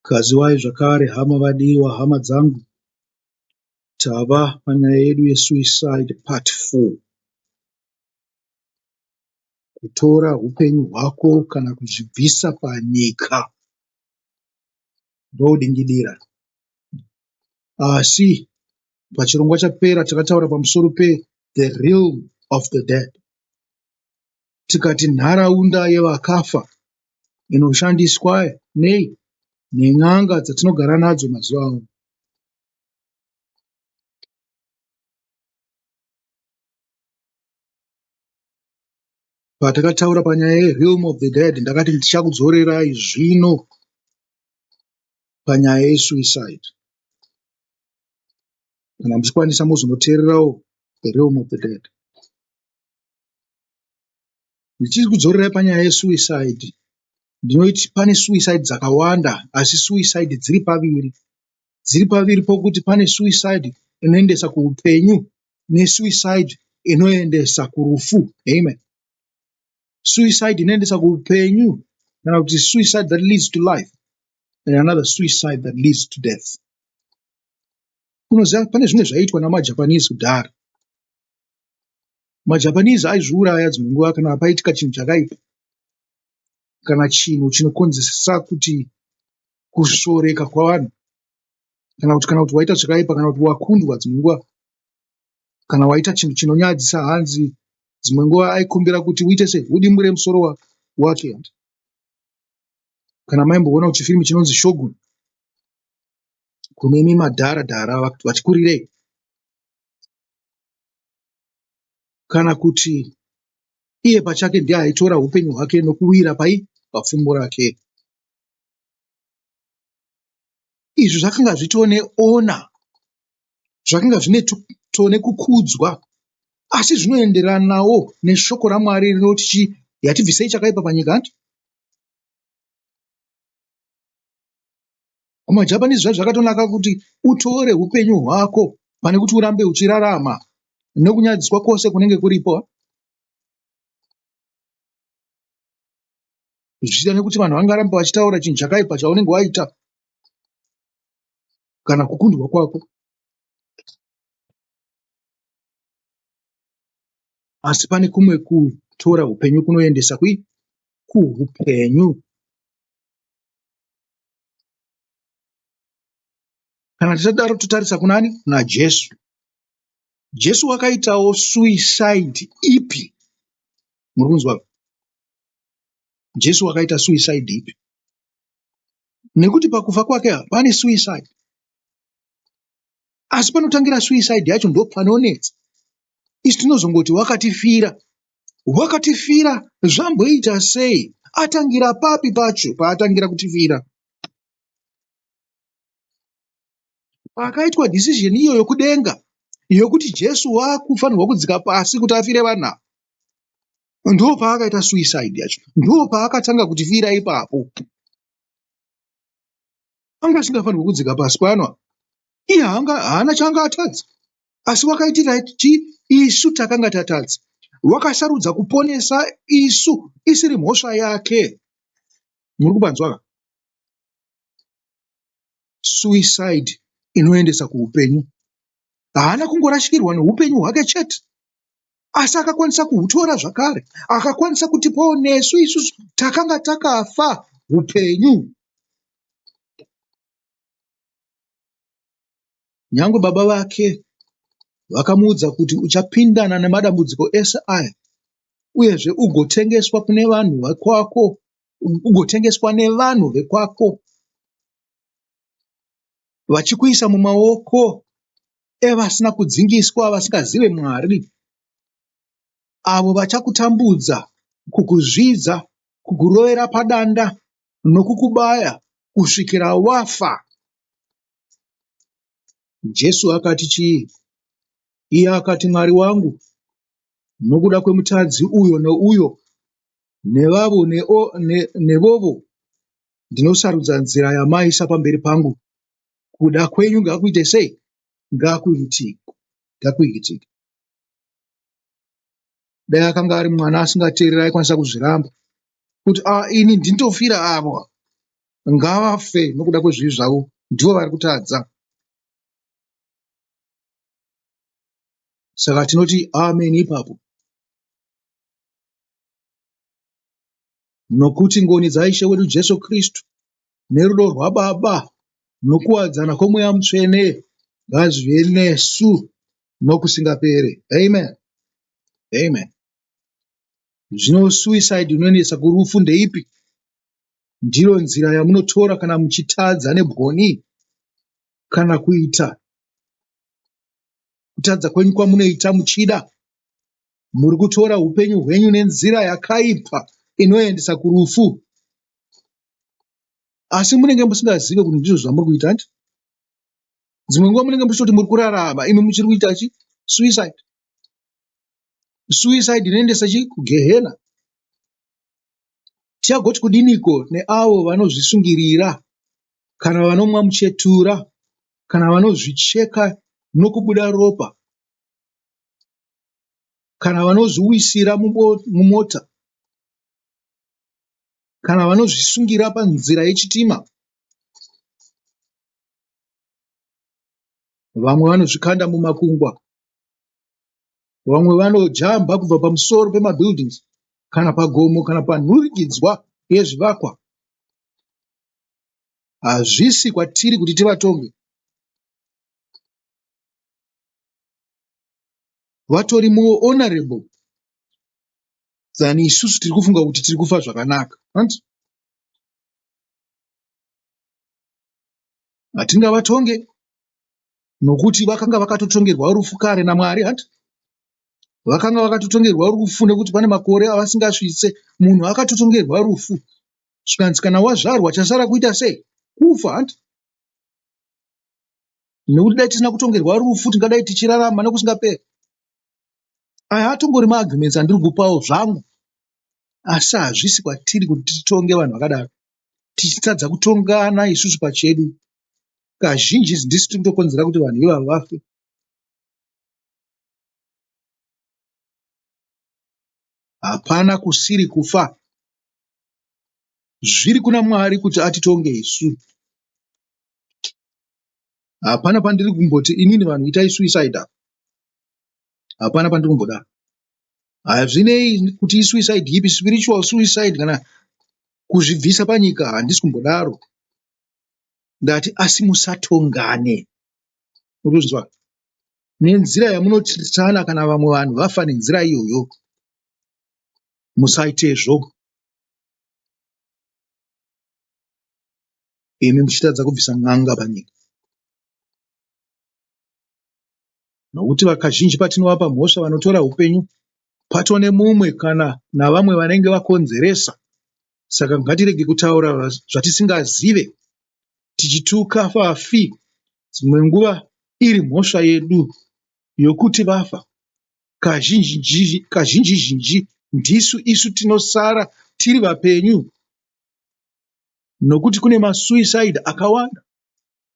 Gadziwai zvakare hama vadiwa hama dzangu tava panyaya yedu yesuicide part 4 kutora upenyu hwako kana kuzvibvisa panyika ndodingidira asi pachirongwa chapera takataura pamusoro pe the realm of the dead tikati nharaunda yevakafa inoshandiswa nei nen'anga dzatinogara nadzo mazuva ano. Patakataura panyaya yerealm of the dead ndakati ndichakudzorerai zvino panyaya yesuicide kana muchikwanisa mozonoteererawo the realm of the dead Ndichikudzorera panyaya ye suicide ndinoti pane suicide dzakawanda asi suicide dziri paviri. Dziri paviri pokuti pane suicide inoendesa kuhupenyu ne suicide inoendesa kurufu. Amen. Suicide inoendesa kuhupenyu kana kuti suicide that leads to life and another suicide that leads to death. Unoziva pane zvimwe zvaiitwa nama Japanese kudhara. MaJapanese aizviuraya dzimwe nguva kana paitika chinhu chakaipa kana chinhu chinokonzesa kuti kusvoreka kwavanhu kana kuti kana kuti waita zvakaipa kana kuti wakundwa dzimwe nguva kana waita chinhu chinonyadzisa hanzi dzimwe nguva aikumbira kuti uite sei udimbure musoro wake kana maimboona kuti chifirimu chinonzi shogun kunemi madhara dhara vachikurirei kana kuti iye pachake ndiye aitora upenyu hwake nokuwira pai papfumbu rake izvi zvakanga zvitone ona zvakanga zvine tone kukudzwa asi zvinoenderanawo neshoko ramwari rinoti chii yatibvisei chakaipa panyika hanti kumajapanese zvacho zvakatonaka kuti utore upenyu hwako pane kuti urambe uchirarama nokunyadziswa kwose kunenge kuripo zvichida nekuti vanhu vangarambe vachitaura chinhu chakaipa chaunenge waita kana kukundwa kwako asi pane kumwe kutora upenyu kunoendesa kui kuupenyu kana tichadaro totarisa kunani kuna jesu jesu wakaitawo suicide ipi muri kunzwa jesu wakaita suicide ipi nekuti pakufa kwake pane suicide asi panotangira suicide yacho ndopanonetsa isu tinozongoti wakatifira wakatifira zvamboita sei atangira papi pacho paatangira kutifira paakaitwa decision iyo yokudenga yokuti jesu wakufanirwa kudzika pasi kuti afire vanhu ndo paakaita suicide yacho ndo paakatanga kutifira ipapo anga asingafanirwi kudzika pasi pano apa iye haanga haana chaanga atadza asi wakaitira ti isu takanga tatadza wakasarudza kuponesa isu isiri mhosva yake muri kupanzwaka suicide inoendesa kuupenyu haana kungorashikirwa neupenyu hwake chete asi akakwanisa kuhutora zvakare akakwanisa kutipawo nesu isusu takanga takafa upenyu nyange baba vake vakamuudza kuti uchapindana nemadambudziko ese aya uyezve ugotengeswa kune vanhu vekwako ugotengeswa nevanhu vekwako vachikuisa mumaoko evasina kudzingiswa vasingazive Mwari, avo vachakutambudza, kukuzvidza, kukurovera padanda nokukubaya kusvikira wafa. Jesu akati chii? Iye akati, Mwari wangu, nokuda kwemutadzi uyo nouyo nevavo nevovo ndinosarudza nzira yamaisa pamberi pangu kuda kwenyu ngakuite sei ngakuitike ngakuitike dai akanga ari mwana asingateerera aikwanisa kuzviramba kuti a ah, ini ndinotofira avo ngavafe nokuda kwezvivi zvavo ndivo vari kutadza saka tinoti amen ipapo nokuti ngoni dzaishe wedu jesu kristu nerudo rwaBaba nokuwadzana kwoMweya Mutsvene ngazvive nesu nokusingapere. Amen. Amen. Zvino suicide inonetsa kurufu ndeipi? Ndiro nzira yamunotora kana muchitadza nebwoni kana kuita kutadza kwenyu kwamunoita muchida muri kutora upenyu hwenyu nenzira yakaipa inoendesa kurufu asi munenge musingazive kuti ndizvo zvamuri kuita hanti dzimwe nguva munenge muchitoti muri kurarama imi muchiri kuita chi suicide suicide inoendesa chi kugehena tichagoti kudiniko neavo vanozvisungirira kana vanomwa muchetura kana vanozvicheka nokubuda ropa kana vanozviwisira mumota kana vanozvisungira panzira yechitima vamwe vanozvikanda mumakungwa vamwe vanojamba kubva pamusoro pemabuildings kana pagomo kana panhurikidzwa yezvivakwa hazvisi kwatiri kuti tivatonge vatori muhonorable than isusu tiri kufunga kuti tiri kufa zvakanaka hanti hatingavatonge nokuti vakanga vakatotongerwa rufu kare namwari hanti vakanga vakatotongerwa rufu nekuti pane makore avasingasvitse munhu akatotongerwa rufu zvikanzi kana wazvarwa chasara kuita sei kufa hanti nekuti dai tisina kutongerwa rufu tingadai tichirarama nekusingaperi aya atongori maagreements andiri kupawo zvangu asi hazvisi kwatiri kuti titonge vanhu vakadaro tichitadza kutongana isusu pachedu kazhinji izi ndisu tinotokonzera kuti vanhu ivavo vafe hapana kusiri kufa zviri kuna mwari kuti atitonge isu hapana pandiri kumboti inini vanhu itai suicide apa hapana pandiri kumbodaro hazvinei kuti isuicide yipi spiritual suicide kana kuzvibvisa panyika handisi kumbodaro ndati asi musatongane urikuzvinzwa nenzira yamunotirisana kana vamwe vanhu vafa nenzira iyoyo musaitezvo imi muchitadza kubvisa n'anga panyika. Nokuti vakazhinji patinovapa mhosva vanotora upenyu pato nemumwe kana navamwe vanenge vakonzeresa. Saka ngatirege kutaura zvatisingazive tichituka vafi dzimwe nguva iri mhosva yedu yokuti vafa. Kazhinji zhinji ndisu isu tinosara tiri vapenyu nokuti kune masuicide akawanda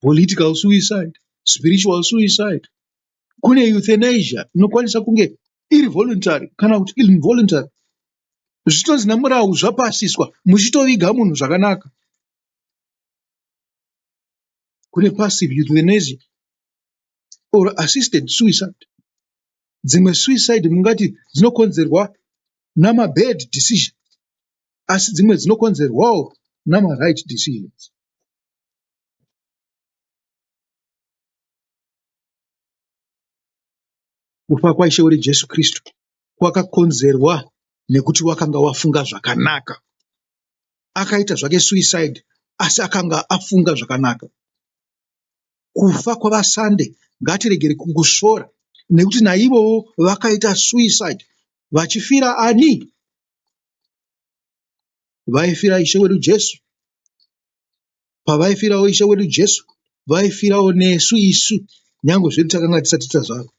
political suicide spiritual suicide kune euthanasia inokwanisa kunge iri voluntary kana kuti involuntary zvitonzi nemurau zvapasiswa muchitoviga munhu zvakanaka kune passive euthanasia or assisted suicide dzimwe suicide mungati dzinokonzerwa namabad decision asi dzimwe dzinokonzerwawo namaright decisions kufa kwaishe wedu jesu kristu kwakakonzerwa nekuti wakanga wafunga zvakanaka akaita zvake suicide asi akanga afunga zvakanaka kufa kwavasande ngatiregere kungusvora nekuti naivowo vakaita suicide vachifira ani vaifira Ishe wedu Jesu, pavaifirawo Ishe wedu Jesu, vaifirawo nesu isu, nyange zvedu takanga tisati tazvarwa.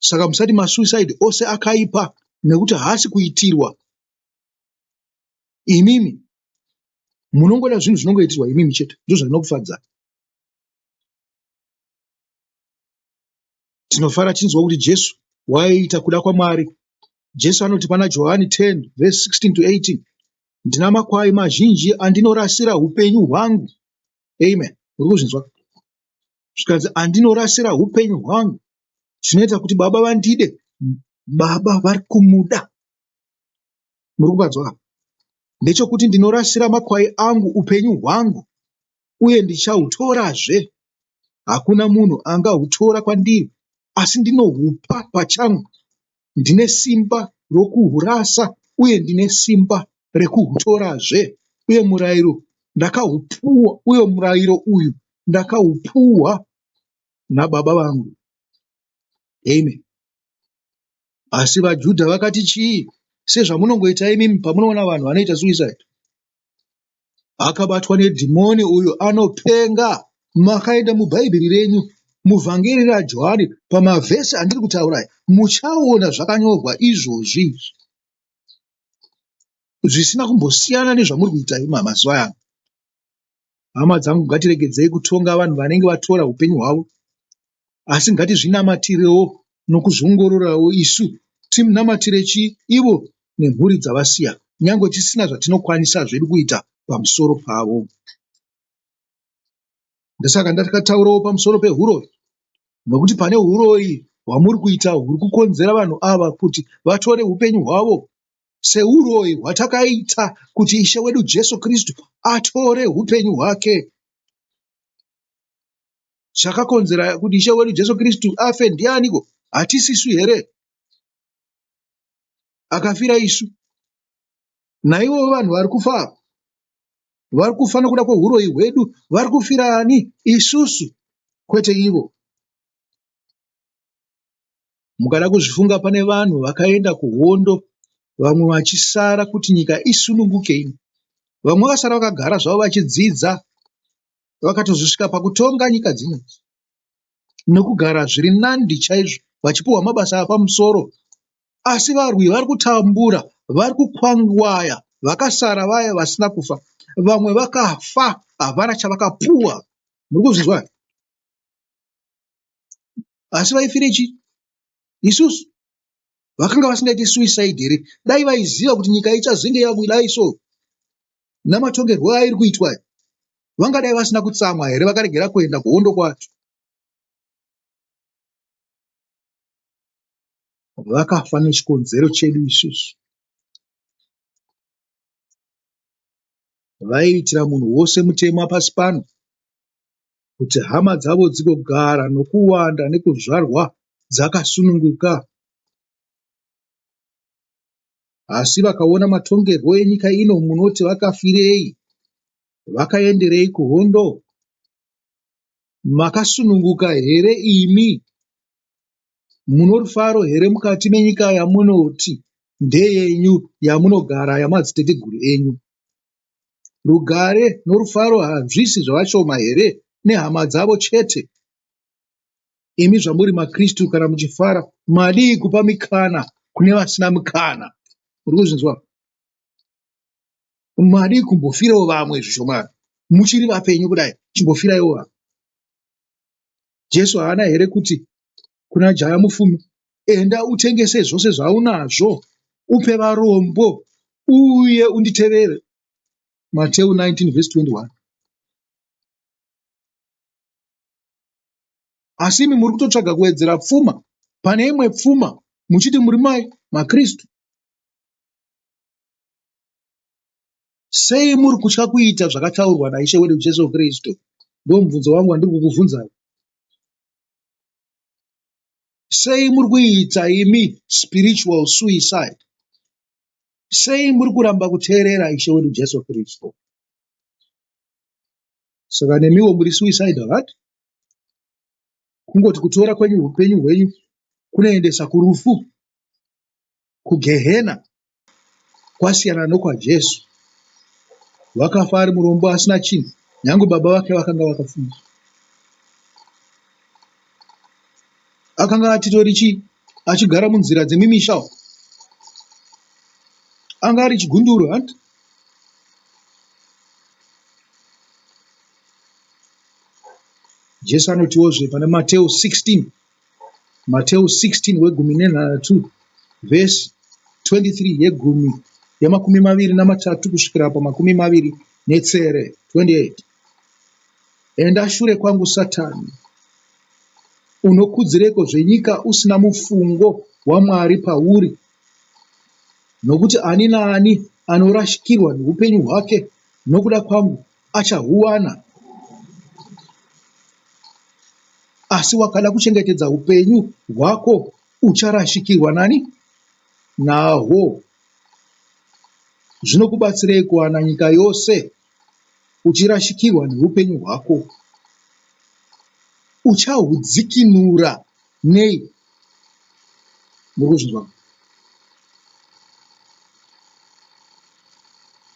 Saka musati masuicide ose akaipa nekuti haasi kuitirwa imimi, munongoda zvinhu zvinongoitirwa imimi chete, ndozvinokufadzai. Tinofara tichinzwa kuti Jesu waiita kuda kwaMwari. Jesu anoti pana Johani 10 vhesi 16 to 18, ndina makwai mazhinji andinorasira upenyu hwangu. Amen. Uri kuzvinzwa? Zvikanzi andinorasira upenyu hwangu zvinoita kuti baba vandide. Baba vari kumuda. Muri kukanzwa? Ndechokuti ndinorasira makwai angu upenyu hwangu. uye ndichahutorazve. Hakuna munhu angahutora kwandiri, asi ndinohupa pachangu. Ndine simba rokuhurasa uye ndine simba rekuhutorazve. Uye murayiro ndakahupuwa, uye murayiro uyu ndakaupuwa naBaba vangu. Amen. Asi vaJudha vakati chii? Sezvamunongoita imimi pamunoona vanhu vanoita suicide. akabatwa nedhimoni uyu anopenga makaenda mubhaibheri renyu muvhangeri rajohani pamavhesi andiri kutaura aya muchaona zvakanyorwa izvozvi izvi zvisina kumbosiyana nezvamuri kuita imi mazuva ano hama dzangu ngatiregedzei kutonga vanhu vanenge vatora upenyu hwavo asi ngatizvinamatirewo nokuzviongororawo isu timunamatire chi ivo nemhuri dzavasiya nyangwe tisina zvatinokwanisa zvedu kuita pamusoro pavo ndosaka ndakataurawo pamusoro pehuroyi nokuti pane huroyi hwamuri kuita huri kukonzera vanhu ava kuti vatore upenyu hwavo seuroyi hwatakaita kuti ishe wedu jesu kristu atore upenyu hwake zvakakonzera kuti ishe wedu jesu kristu afe ndianiko hatisisu here akafira isu naivovo vanhu vari kufa ava vari kufa nokuda kweuroyi hwedu vari kufira ani isusu kwete ivo mukada kuzvifunga pane vanhu vakaenda kuhondo vamwe vachisara kuti nyika isununguke ino vamwe vakasara vakagara zvavo vachidzidza vakatozosvika pakutonga nyika dzino nokugara zviri nandi chaizvo vachipiwa mabasa apamusoro asi varwi vari kutambura vari kukwangwaya vakasara vaya vasina kufa vamwe vakafa havana chavakapuwa muri kuzvinzwa asi vaifire chii isusu vakanga vasingaite suicide here dai vaiziva kuti nyika ichazenge yabudai so namatongerwo airi kuitwa aya vangadai vasina kutsamwa here vakaregera kuenda kuhondo kwacho vakafa nechikonzero chedu isusu vaiitira munhu wose mutemo apasi pano kuti hama dzavo dzigogara nokuwanda nekuzvarwa dzakasununguka asi vakaona matongerwo enyika ino munoti vakafirei vakaenderei kuhondo makasununguka here imi muno rufaro here mukati menyika yamunoti ndeyenyu yamunogara yamadziteteguru enyu rugare norufaro hazvisi zvavashoma here nehama dzavo chete imi zvamuri makristu kana muchifara madii kupa mikana kune vasina mikana muri kuzvinzwa madii kumbofirawo vamwe zvishomani muchiri vapenyu kudai chimbofiraiwo vamwe jesu haana here kuti kuna jaya mufumi enda utengese zvose zvaunazvo upe varombo uye unditevere mateu 19 vs 21 asi imi muri kutotsvaga kuwedzera pfuma pane imwe pfuma muchiti muri mai makristu sei muri kutya kuita zvakataurwa naishe wedu jesu kristu ndo mubvunzo wangu wandiri kukubvunzai sei muri kuita imi spiritual suicide sei muri kuramba kuteerera ishe wedu jesu kristu saka nemiwo muri suicidal hat kungoti kutora kwenyu upenyu hwenyu kunoendesa kurufu kugehena kwasiyana nokwajesu wakafa ari murombo asina chinhu nyange baba vake vakanga vakafunga akanga atitori chii achigara munzira dzemimisha anga ari chigunduru hanti jesu anotiwozve pana mateu 16 mateu 16 wegumi nenhanhatu vhesi 23 yegumi yemakumi maviri namatatu kusvikira pamakumi maviri netsere 28 enda shure kwangu satani unokudzireko zvenyika usina mufungo wamwari pauri nokuti ani naani anorashikirwa noupenyu hwake nokuda kwangu achahuwana, asi wakada kuchengetedza upenyu hwako ucharashikirwa nani nahwo. Zvinokubatsirei kuwana nyika yose uchirashikirwa neupenyu hwako? Uchahudzikinura Nei? Muri kuzvinzwa?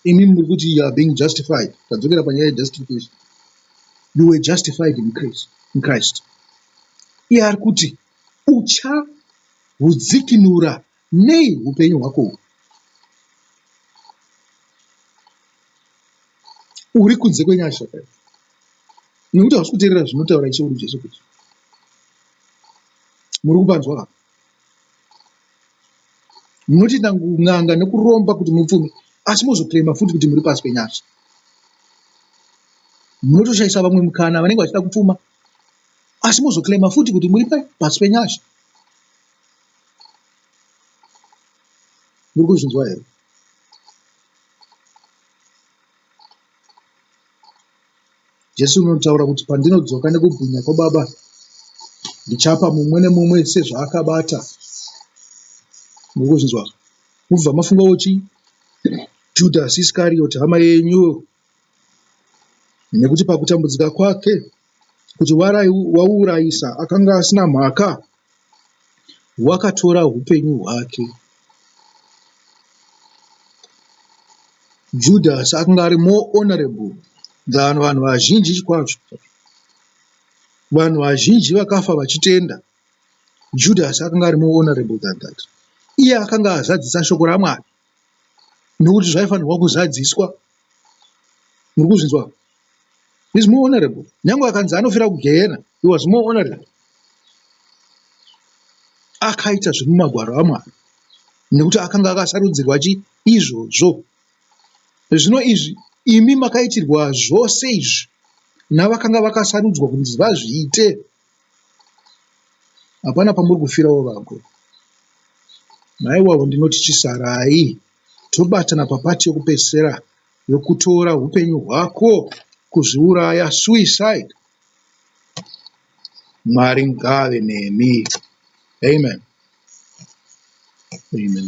Imi muri kuti you are being justified. Tadzokera panyaya yejustification. You were justified in Christ. In Christ. Iye ari kuti uchahudzikinura nei upenyu hwako uhu uri kunze kwenyasha kai nekuti hausi kuteerera zvinotaura ishe uri jesu kuti muri kupanzwa vapa munoti nan'anga nekuromba kuti mupfume asi mozoclaima futi kuti muri pasi penyasha munotoshaisa vamwe mukana vanenge vachida kupfuma asi mozoclaima futi kuti muri pasi penyasha muri kuzvinzwa here jesu unotaura kuti pandinodzoka nekubwinya kwababa ndichapa mumwe nemumwe sezvaakabata muri kuzvinzwa mubva mafunga uchi judhasi iskarioti hama yenyu nekuti pakutambudzika kwake kuti wauurayisa akanga asina mhaka wakatora upenyu hwake judas akanga ari more honorable than vanhu vazhinji kwazvo vanhu vazhinji vakafa vachitenda judas akanga ari more honorable than that iye akanga azadzisa shoko ramwari nokuti zvaifanirwa kuzadziswa muri kuzvinzwa is more honorable nyange akanzi anofira kugehena he was more honorable akaita zviri mumagwaro amwari nekuti akanga akasarudzirwa chi izvozvo zvino izvi imi makaitirwa zvose izvi navakanga vakasarudzwa kunzi vazviite hapana pamuri kufirawo vakuru maiwavo ndinoti chisarai tobatana papati yekupedzisira yokutora upenyu hwako kuzviuraya suicide mwari ngave nemi amen amen